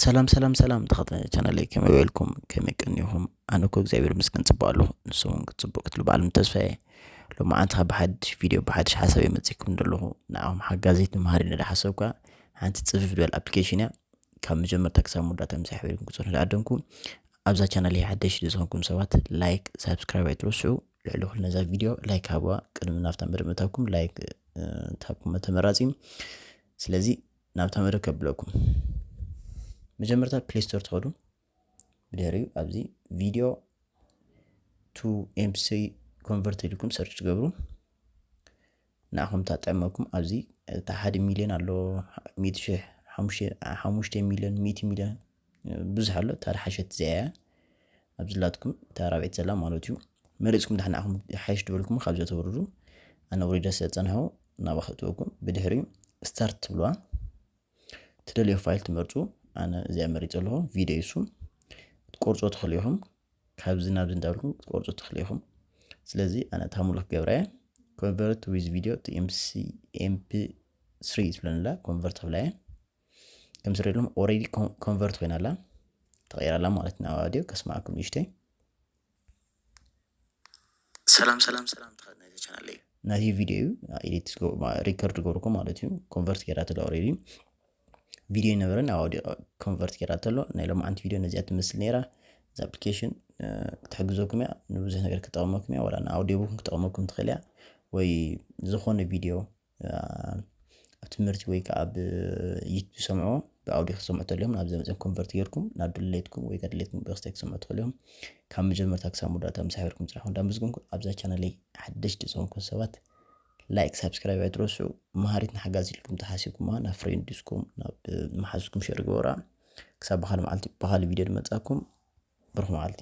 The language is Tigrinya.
ሰላም ሰላም ሰላም ተኸታታሊ ቻናለይ ከመይ ውዒልኩም ከመይ ቀኒኹም ኣነ እኮ እግዚኣብሔር ይመስገን ፅቡቅ ኣለኹ ንስኹም እውን ክትፅቡቅ ክትሉ በዓል ተስፋዬ ሎማዓንቲ ካብ ብሓድሽ ቪድዮ ብሓድሽ ሓሳብ እየ መፂእኩም ዘለኹ ንዓኹም ሓጋዚት ንመሃሪ ነዳ ሓሰብካ ሓንቲ ፅፍፍ ዝበል ኣፕሊኬሽን እያ ካብ መጀመርታ ክሳብ መወዳእታ ምሳይ ሕብሪኩም ክፅንሑ ዝዓደምኩ ኣብዛ ቻናል እየ ሓደሽ ዝኮንኩም ሰባት ላይክ ሳብስክራይብ ኣይትረስዑ ልዕሊ ኩሉ ነዛ ቪድዮ ላይክ ሃቡዋ ቅድሚ ናብታ መደብ ምእታውኩም ላይክ ታብኩም ተመራፂ እዩ ስለዚ ናብ ተመደ ከብለኩም መጀመርታ ፕሌይ ስቶር ትኸዱ ብድሕሪኡ ኣብዚ ቪድዮ ቱ ኤምሲ ኮንቨርት ኢልኩም ሰርች ትገብሩ ንኣኹም ታጠመኩም ኣብዚ እታ ሓደ ሚልዮን ኣሎ ሚእቲ ሽሕ ሓሙሽተ ሚልዮን ሚእቲ ሚልዮን ብዙሕ ኣሎ እታ ድሓሸት እዚኣ እያ ኣብ ዝላትኩም እታ ራብዒት ዘላ ማለት እዩ መሪፅኩም ዳሕና ኣኹም ሓይሽ ድበልኩም ካብዚ ተወርዱ ኣነ ውሪደ ስለ ፀንሖ ናብ ኣኸእትወኩም ብድሕሪ ስታርት ትብልዋ ትደልዮ ፋይል ትመርፁ ኣነ እዚኣ መሪፅ ኣለኹ ቪዲዮ ይሱ ትቆርፆ ትኽእሉ ኢኹም ካብዚ ናብዚ እንዳብልኩም ትቆርፆ ትኽእሉ ኢኹም ስለዚ ኣነ እታ ሙሉክ ገብረ እየ ኮንቨርት ዊዝ ቪዲዮ ቱ ኤምፒ ስሪ ትብለንላ ኮንቨርት ክብላ እየ ከም ዝሪእሎም ኦሬዲ ኮንቨርት ኮይና ኣላ ተቐይራ ኣላ ማለት ናብ ኣድዮ ከስማዕኩም ንእሽተይ ሰላም ሰላም ሰላም ተኸናይቲ ቻናል እዩ ናቲ ቪድዮ እዩ ኤዲት ሪከርድ ገበርኩ ማለት እዩ ኮንቨርት ገይራ ተሎ ኦሬዲ ቪድዮ ነበረ ናብ ኣውዲዮ ኮንቨርት ገይራ ተሎ ናይ ሎማዓንቲ ቪድዮ ነዚኣ ትመስል ነይራ እዚ ኣፕሊኬሽን ክትሕግዘኩም እያ ንብዙሕ ነገር ክጠቕመኩም እያ ወላ ንኣውዲዮ ቡክን ክጠቕመኩም ትኽእል እያ ወይ ዝኾነ ቪድዮ ኣብ ትምህርቲ ወይ ከዓ ኣብ ዩቱብ ዝሰምዑዎ ብኣውዲዮ ክሰምዑ ተልዮም ናብ ዘመፅን ኮንቨርት ጌርኩም ናብ ድሌትኩም ወይ ከዓ ድሌትኩም ብክስታይ ክሰምዑ ተልዮም ካብ መጀመርታ ክሳብ መወዳእታ ምስ ሓቢርኩም ስራሕኩም እንዳመስገንኩ ኣብዛ ቻናለይ ሓደሽቲ ዝኾንኩም ሰባት ላይክ ሳብስክራይብ ኣይትረስዑ መሃሪት ንሓጋዝ ኢልኩም ተሓሲብኩማ ናብ ፍሬንድስኩም ናብ መሓዝኩም ሸር ግበራ ክሳብ ብካል መዓልቲ ብካል ቪድዮ ድመፃኩም ብሩክ መዓልቲ